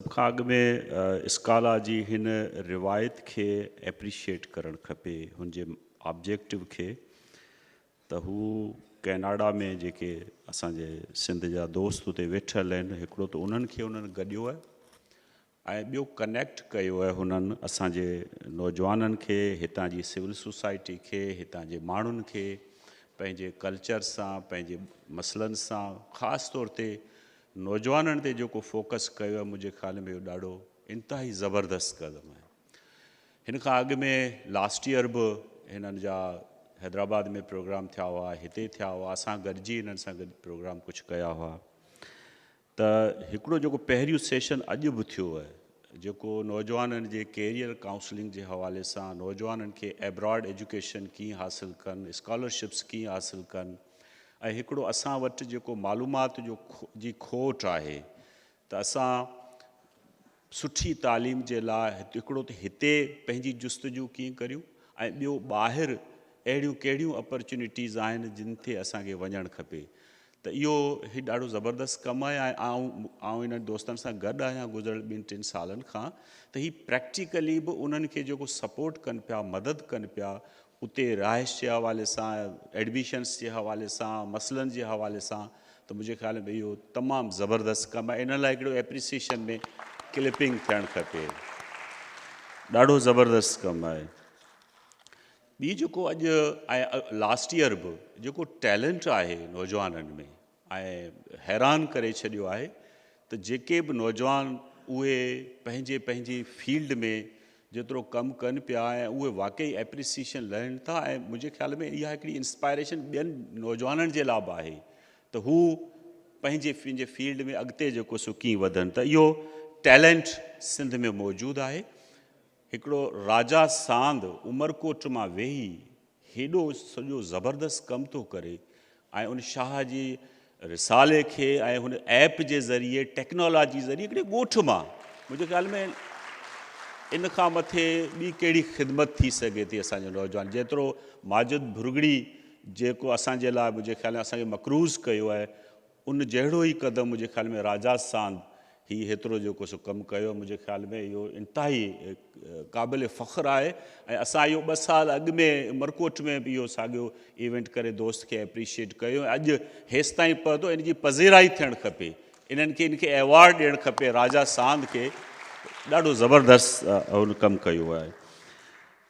سڀ کان اڳ ۾ اسڪالا جي هن روايت کي ايپريشيئيٽ ڪرڻ کپي، هن جي آبجيڪٽو کي ته هو ڪئناڊا ۾ جيڪي اسان جي سنڌ جا دوست اتي ويٺل آهن هڪڙو ته انهن کي انهن گڏيو آهي ۽ ٻيو ڪنيڪٽ ڪيو آهي هنن اسان جي نوجوانن کي هتان جي سول سوسائٽي کي هتان جي ماڻهن کي پنهنجي ڪلچر سان پنهنجي مسئلن سان خاص طور تي نوجوانن تي جيڪو فوڪس ڪيو آهي منهنجي خيال ۾ اهو ڏاڍو انتهائي زبردست قدم آهي هن کان اڳ ۾ لاسٽ ييئر به هنن جا حيدرآباد ۾ پروگرام ٿيا هئا هتي ٿيا هئا اسان گڏجي هنن سان گڏ پروگرام ڪجهه ڪيا هئا ته هڪڙو جيڪو پهريون سيشن اڄ به ٿيو آهي جيڪو نوجوانن جي ڪيريئر ڪائونسلنگ جي حوالي سان نوجوانن کي ابراڊ ايجوڪيشن ڪيئن حاصل ڪن اسڪالرشپس ڪيئن حاصل ڪن ۽ هڪڙو اسان وٽ جيڪو معلومات جو جي کوٽ آهي ته اسان سٺي تعليم جي لاء هڪڙو ته هتي پنهنجي جستجو ڪيئن ڪريون ۽ ٻيو ٻاهر اهڙيون ڪهڙيون اپرچونيٽيز آهن جن تي اسان کي وڃڻ کپي ته اهو هي ڏاڍو زبردست ڪم آهي ۽ آئون آئون انهن دوستن سان گڏ آهيان گذريل ٻن ٽن سالن کان ته هي پريڪٽيڪلي به انهن کي جيڪو سپورٽ ڪن پيا مدد ڪن پيا اتي رهائش جي حوالي سان، ايڊميشنس جي حوالي سان، مسئلن جي حوالي سان ته منهنجي خيال ۾ اهو تمام زبردست ڪم آهي. انهن لاء هڪڙو ايپريسيشن ۾ ڪلپنگ ٿيڻ کپي. ڏاڍو زبردست ڪم آهي. ٻي جيڪو اڄ ۽ لاسٽ ايئر به جيڪو ٽيلنٽ آهي نوجوانن ۾، ائين حيران ڪري ڇڏيو آهي ته جيڪي به نوجوان اهي پنهنجي پنهنجي فيلڊ ۾ جيترو ڪم ڪن پيا ۽ اهي واقعي ايپريسيشن لهن ٿا ۽ منهنجي خيال ۾ اها هڪڙي انسپائريشن ٻين نوجوانن جي لا به آهي ته هو پنهنجي پنهنجي فيلڊ ۾ اڳتي جيڪو سو ڪيئن وڌن ته اهو ٽيلينٽ سنڌ ۾ موجود آهي هڪڙو راجا ساند عمرڪوٽ مان ويهي هيڏو سڄو زبردست ڪم ٿو ڪري ۽ ان شاهه جي رسالي کي ۽ هن ايپ جي ذريعي ٽيڪنالاجي ذريعي هڪڙي ڳوٺ مان منهنجي خيال ۾ ان کان مٿي ٻي ڪهڙي خدمت ٿي سگهي ٿي اسان جي نوجوان جيترو ماجد ڀرڳڙي جيڪو اسان جي لاء منهنجي خيال ۾ اسان کي مقروض ڪيو آهي ان جهڙو ئي قدم منهنجي خيال ۾ راجا ساند هي هيترو جيڪو سو ڪم ڪيو آهي منهنجي خيال ۾ اهو انتهائي قابل فخر آهي ۽ اسان اهو ٻه سال اڳ ۾ عمرڪوٽ ۾ به اهو ساڳيو ايونٽ ڪري دوست کي اپريشيئيٽ ڪيو ۽ اڄ هيستائين پهتو ان جي پذيرائي ٿيڻ کپي انهن کي ان کي ايوارڊ ڏيڻ کپي راجا ساند کي ڏاڍو زبردست هن ڪم ڪيو آهي.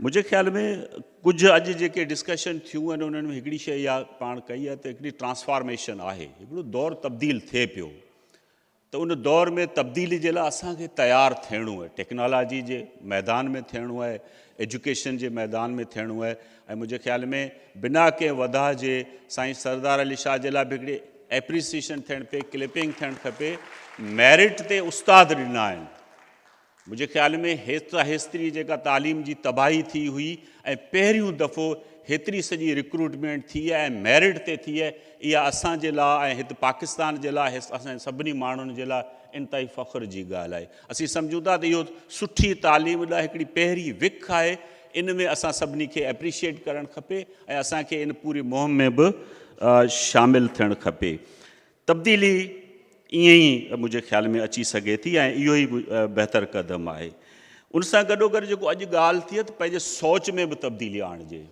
منهنجي خيال ۾ ڪجهه اڄ جيڪي ڊسڪشن ٿيون آهن انهن ۾ هڪڙي شيء اها پاڻ ڪئي آهي ته هڪڙي ٽرانسفارميشن آهي هڪڙو دور تبديل ٿئي پيو ته ان دور ۾ تبديلي جي لاء اسان کي تيار ٿيڻو آهي ٽيڪنالاجي جي ميدان ۾ ٿيڻو آهي ايجوڪيشن جي ميدان ۾ ٿيڻو آهي ۽ منهنجي خيال ۾ بنا ڪنهن وڌاء جي سائين سردار علي شاهه جي لاء به هڪڙي ايپريسيشن ٿيڻ پئي ڪلپنگ ٿيڻ کپي ميرٽ تي استاد ڏنا آهن منهنجي خيال ۾ هيسترا هيستري جيڪا تعليم جي تباهي ٿي هئي ۽ پهريون دفعو هيتري سڄي رڪروٽمينٽ ٿي ۽ ميرٽ تي ٿي اها اسان جي لا۽ هت پاڪستان جي لا هيس اسان سڀني ماڻهن جي لا انتهائي فخر جي ڳالهه آهي اسين سمجهون ٿا ته اهو سٺي تعليم لا هڪڙي پهرين وک آهي ان ۾ اسان سڀني کي اپريشيٽ ڪرڻ کپي ۽ اسان کي ان پوري مهم ۾ به شامل ٿيڻ کپي تبديلي ائين ئي منهنجي خيال ۾ اچي سگهي ٿي ۽ اهو ئي بهتر قدم آهي. ان سان گڏوگڏ جيڪو اڄ ڳالهه ٿئي ته پنهنجي سوچ ۾ به تبديلي آڻجي.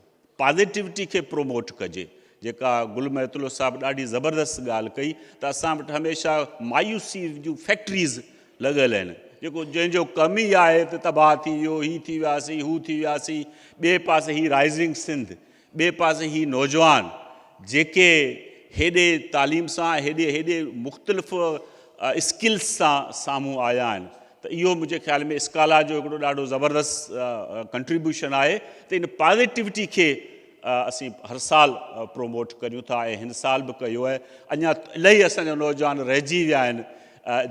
پازيٽوٽي کي پروموٽ ڪجي. جيڪا گل محيط الله صاحب ڏاڍي زبردست ڳالهه ڪئي ته اسان وٽ هميشه مايوسي جون فيڪٽريز لڳل آهن. جيڪو جنهن جو ڪم ئي آهي ته تباهه ٿي ويو، هي ٿي وياسين، هو ٿي وياسين، ٻئي پاسي هي رائزنگ سنڌ ٻئي پاسي هي نوجوان جيڪي هيڏي تعليم سان هيڏي هيڏي مختلف اسڪلس سان سامهون آيا آهن ته اهو منهنجي خيال ۾ اسڪالا جو هڪڙو ڏاڍو زبردست ڪنٽريبيوشن آهي ته ان پازيٽوٽي کي اسين هر سال پروموٽ ڪريون ٿا ۽ هن سال به ڪيو آهي اڃا الائي اسان جا نوجوان رهجي ويا آهن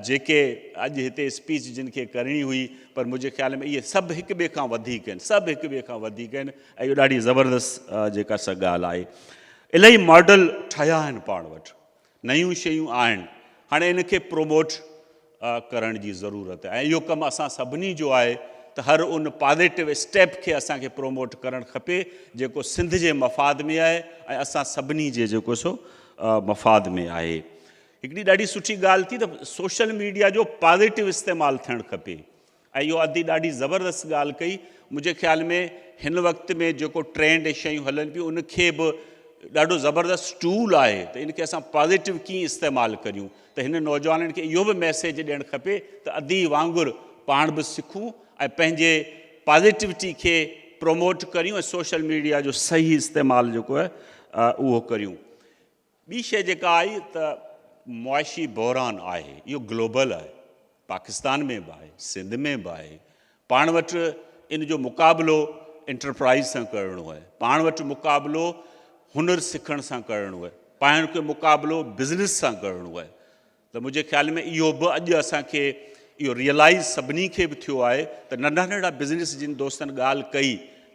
جيڪي اڄ هتي اسپيچ جن کي ڪرڻي هئي پر منهنجي خيال ۾ اهي سڀ هڪ ٻئي کان وڌيڪ آهن سڀ هڪ ٻئي کان وڌيڪ آهن اهو ڏاڍي زبردست جيڪا سا ڳالهه آهي الائي ماڊل ٺهيا آهن پاڻ وٽ نيون شيون آهن هاڻي ان کي پروموٽ ڪرڻ جي ضرورت آهي ۽ اهو ڪم اسان سڀني جو آهي ته هر ان پازيٽو اسٽيپ کي اسان کي پروموٽ ڪرڻ کپي جيڪو سنڌ جي مفاد ۾ آهي ۽ اسان سڀني جي جيڪو سو مفاد ۾ آهي هڪڙي ڏاڍي سٺي ڳالهه ٿي ته سوشل ميڊيا جو پازيٽو استعمال ٿيڻ کپي اهو ادي ڏاڍي زبردست ڳالهه ڪئي. منهنجي خيال ۾ هن وقت ۾ جيڪو ٽرينڊ شيون هلن پيون ان کي به ڏاڍو زبردست ٽول آهي ته ان کي اسان پازيٽو ڪيئن استعمال ڪريون ته هن نوجوانن کي اهو به ميسيج ڏيڻ کپي ته ادي وانگر پاڻ به سکون ۽ پنهنجي پازيٽوٽي کي پروموٽ ڪريون ۽ سوشل ميڊيا جو صحيح استعمال جيڪو آهي اهو ڪريون. ٻي شيء جيڪا آئي ته معاشي بحران آهي اهو گلوبل آهي پاڪستان ۾ به آهي سنڌ ۾ به آهي پاڻ وٽ ان جو مقابلو انٽرپرائز سان ڪرڻو آهي پاڻ وٽ مقابلو هنر سکڻ سان ڪرڻو آهي پاڻ کي مقابلو بزنس سان ڪرڻو آهي ته منهنجي خيال ۾ اهو به اڄ اسان کي اهو ريئلائيز سڀني کي به ٿيو آهي ته ننڍا ننڍا بزنس جن دوستن ڳالهه ڪئي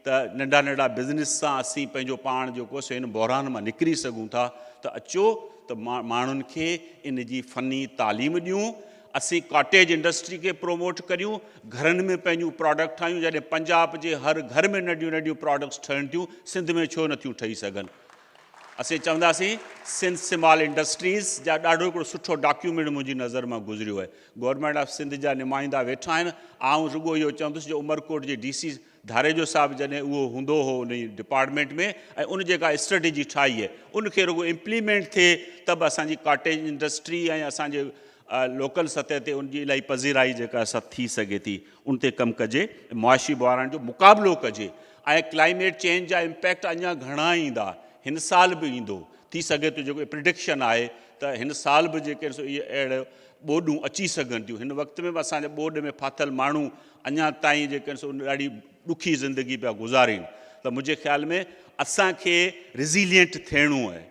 ته ننڍا ننڍا بزنس سان اسين پنهنجو پاڻ جيڪو سو هن بحران مان نڪري سگهون ٿا ته اچو ته ماڻهن کي ان جي فني تعليم ڏيون اسين ڪاٽيج انڊسٽري کي پروموٽ ڪريون گهرن ۾ پنهنجون پراڊڪٽ ٺاهيون جڏهن پنجاب جي هر گهر ۾ ننڍيون ننڍيون پراڊڪٽس ٺهن ٿيون سنڌ ۾ ڇو نٿيون ٺهي سگهن اسين چونداسين سنڌ سمال انڊسٽريز جا ڏاڍو هڪڙو سٺو ڊاڪيومينٽ منهنجي نظر مان گذريو آهي گورنمينٽ آف سنڌ جا نمائندا ويٺا آهن آئون رڳو اهو چوندس جو عمرڪوٽ جي ڊي سي ڌاريجو صاحب جڏهن اهو هوندو هو ان ڊپارٽمينٽ ۾ ۽ ان جيڪا اسٽريٽجي ٺاهي آهي ان کي رڳو امپليمينٽ ٿئي ته به اسان جي ڪاٽيج انڊسٽري ۽ اسان جي لوڪل سطح تي ان جي الائي پذيرائي جيڪا سا ٿي سگهي ٿي ان تي ڪم ڪجي معاشي بحران جو مقابلو ڪجي ۽ ڪلائميٽ چينج جا امپيڪٽ اڃا گهڻا ايندا، هن سال به ايندو، ٿي سگهي ٿو جيڪو پرڊڪشن آهي ته هن سال به جيڪي سو اهي اهڙيون ٻوڏون اچي سگهن ٿيون، هن وقت ۾ به اسان جا ٻوڏ ۾ ڦاٿل ماڻهو اڃا تائين جيڪي سو ڏاڍي ڏکي زندگي پيا گذارين ته منهنجي خيال ۾ اسان کي ريزيلينٽ ٿيڻو اهي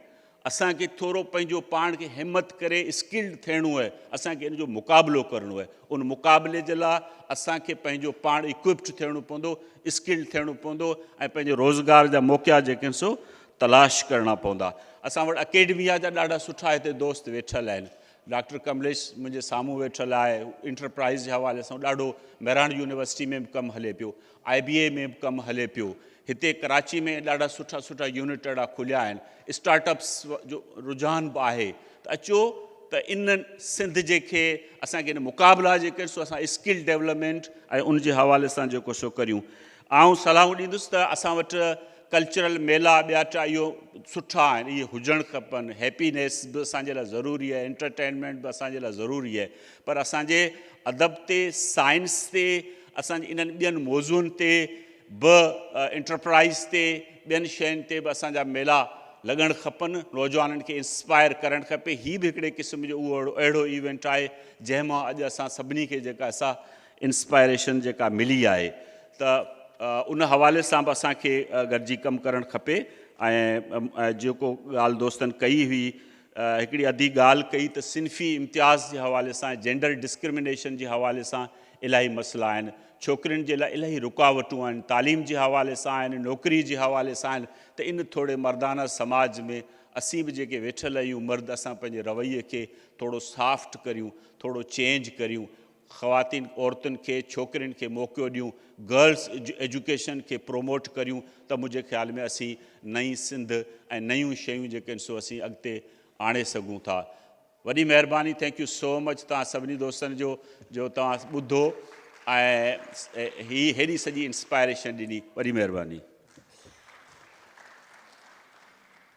اسان کي ٿورو پنهنجو پاڻ کي همت ڪري اسڪلڊ ٿيڻو اهي اسان کي ان جو مقابلو ڪرڻو اهي ان مقابلي جي لاء اسان کي پنهنجو پاڻ اڪوپٽ ٿيڻو پوندو اسڪلڊ ٿيڻو پوندو ۽ پنهنجي روزگار جا موقعا جيڪي آهن سو تلاش ڪرڻا پوندا اسان وٽ اڪيڊميا جا ڏاڍا سٺا هتي دوست ويٺل آهن ڊاڪٽر ڪمليش منهنجي سامهون ويٺل آهي انٽرپرائز جي حوالي سان ڏاڍو مهراڻ يونيورسٽي ۾ به ڪم هلي پيو آء بي اي ۾ به ڪم هلي پيو هتي ڪراچي ۾ ڏاڍا سٺا سٺا يونٽ اهڙا کليا آهن اسٽارٽ اپس جو رجحان به آهي ته اچو ته ان سنڌ جي کي اسان کي مقابلا جي ڪري سو اسان اسڪل ڊيولپمينٽ ۽ ان جي حوالي سان جيڪو سو ڪريون آئون صلاحون ڏيندس ته اسان وٽ ڪلچرل ميلا ٻيا ٽا اهو سٺا آهن اهي هجڻ کپن هيپينيس به اسان جي لاء ضروري آهي انٽرٽينمينٽ به اسان جي لاء ضروري آهي پر اسان جي ادب تي سائنس تي اسان جي انهن ٻين موضوعن تي به انٽرپرائيز تي ٻين شين تي به اسان جا ميلا لڳڻ کپن نوجوانن کي انسپائر ڪرڻ کپي هي به هڪڙي قسم جو اهو اهڙو ايونٽ آهي جنهن مان اڄ اسان سڀني کي جيڪا سا انسپائريشن جيڪا ملي آهي ته ان حوالي سان به اسان کي گڏجي ڪم ڪرڻ کپي ۽ جيڪو ڳالهه دوستن ڪئي هئي هڪڙي اڌي ڳالهه ڪئي ته صنفي امتياز جي حوالي سان جينڊر ڊسڪرمنيشن جي حوالي سان الاهي مسئلا آهن ڇوڪرين جي لاء الائي رڪاوٽون آهن، تعليم جي حوالي سان آهن، نوڪري جي حوالي سان آهن ته ان ٿوري مردانه سماج ۾ اسين به جيڪي ويٺل آهيون مرد اسان پنهنجي رويي کي ٿورو سافٽ ڪريون، ٿورو چينج ڪريون، خواتين عورتن کي ڇوڪرين کي موقعو ڏيون، گرلس ايجوڪيشن کي پروموٽ ڪريون ته منهنجي خيال ۾ اسين نئين سنڌ ۽ نيون شيون جيڪي آهن سو اسين اڳتي آڻي سگهون ٿا. وڏي مهرباني ٿينڪ يو سو مچ توهان سڀني دوستن جو جو توهان ٻڌو ۽ هي هيڏي سڄي انسپائريشن ڏني وڏي مهرباني.